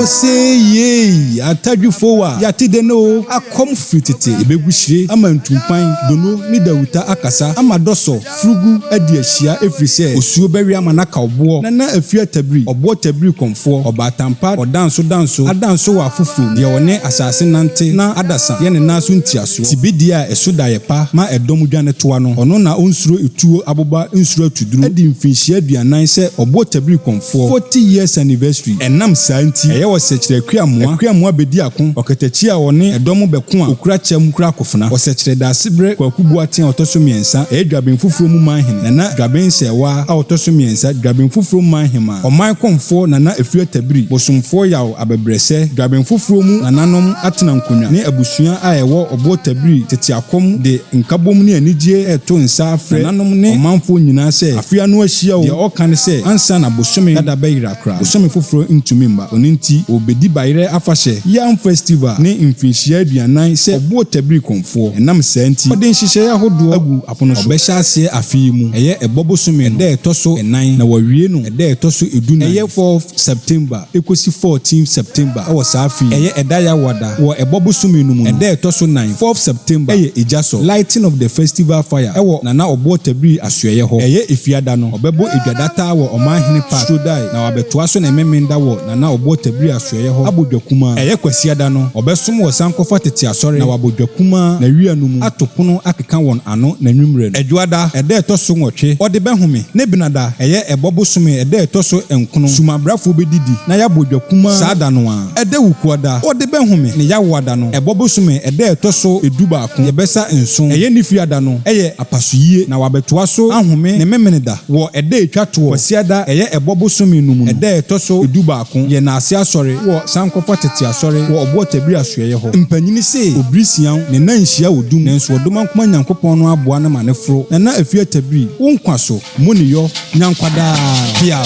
ose yei atadwifo a yɛate dɛ ne o akɔm firi tete ebegu hyire ama ntumpan dono ne dawuta akasa ama dɔsɔ Furugu adi ahyia ɛfiri sɛ osuo bɛwe ama no aka ɔboɔ na na afiri atabiri, ɔboɔ tabiri kɔmfoɔ, ɔbaatampad, ɔdansodanso, adanso wɔ afoforɔ mu, deɛ ɔne asase nante na adasa yɛ ne nan so ntiasoɔ, tibedeɛ a ɛso da yɛ pa ma ɛdɔm dwanetoa no, ɔno na ɔnsuro etuo aboba nsuro atuduro, adi mfirinhyia aduanan sɛ ɔboɔ tabiri kɔmfoɔ, forty years anniversary, ɛnam saa nti ɛyɛ ɔsɛkyerɛ akuamoa, akuamoa bɛdi ako, ɔkatakyie a ɔne ɛdɔm bɛko a ɔkura kyɛm kura Afena ɔsɛkyerɛ Daasebrɛ Kwaku Boateng a ɔtɔ so mmiɛnsa yɛ Dwaben Foforɔ mu Manhene Nana Dwaben Nsɛɛwaa a ɔtɔ so mmiɛnsa Dwaben Foforɔ mu Manhemaa Ɔman Kɔmfoɔ Nana Afiriatabiri Bosomfoɔ Yaw Abɛbrɛsɛ Dwaben Foforɔ mu Nananom Atena Nkonnwa ne abusua a ɛwɔ Ɔboɔ Tabiri Tete Akɔm de nkabom ne anigyeɛ reto nsa afrɛ Nananom ne ɔmanfoɔ nyinaa sɛ afe ano ahyia o Deɛ ɔka ne sɛ ansa na bosome dada bɛyera koraa. Bosome foforɔ ntumi mma. Ɔno nti, wɔbɛdi Bayerɛ afahyɛ, Yam Festival, ne mfirinhyia aduanan sɛ ɔboɔ tabiri kɔmfoɔ. Ɛnam saa nti, wɔde nhyehyɛeɛ ahodoɔ agu apono so. Wɔbɛhyɛ aseɛ afe yi mu, ɛyɛ ɛbɔ bosome no da a ɛtɔ so nnan na wɔawie no ɛda a ɛtɔ so du nan, ɛyɛ fourth September kɔsi fourteenth September wɔ saa afe yi. Ɛyɛ ɛda yawa da. Wɔ ɛbɔ bosome no mu no, ɛda a ɛtɔ so nan, fourth September, yɛ Egyasɔ, Lighting of the Festival Fire, wɔ Nana Ɔboɔ Tabiri Asoɛeɛ hɔ. Ɛyɛ Efiada no. Ɔbɛbɔ edwa dataa wɔ Ɔmanhene Park, Strodae, na wabɛtoa so ne Memeneda wɔ Nana Oboɔ Tabiri Asoɛeɛ hɔ abɔ dwa kumaa. Ɛyɛ Kwasiada no, ɔbɛsom wɔ Sankɔfa Tete Asɔre na wabɔ dwa kumaa Nawia no mu, ato pono akeka wɔn ano n'anwummerɛ no. Ɛdwoada, ɛda a ɛtɔ so nwɔtwe, ɔde bɛhome, ne Benada, ɛyɛ Ɛbɔ bosome ɛda a ɛtɔ so nkono, sumabrafoɔ bɛdidi na yɛabɔ dwa kumaa saa da no ara. Ɛda Wukuada, ɔde bɛhome, ne Yawoada no, Ɛbɔ bosome ɛda a ɛtɔ so du baako. Deɛ bɛsa nson, ɛyɛ ne fiada no, yɛ apasoyie, na wabɛtoa so ahome ne Memeneda wɔ ɛda a ɛtwa toɔ, Kwasiada, ɛyɛ ɛbɔ bosome no mu no, ɛda a ɛtɔ so dubaako, yɛ n'ase asɔre wɔ sankɔfa tete asɔre wɔ Ɔboɔtabiri asoɛeɛ hɔ. Mpanyini se, Obiri sian, ne nan nhyia wɔ dum, nanso Ɔdomankoma Nyankopɔn no aboa no ma no foro, Nana Afiatabiri, wo nkwa so, Moneyɔ, nya nkwa daa! Piaw!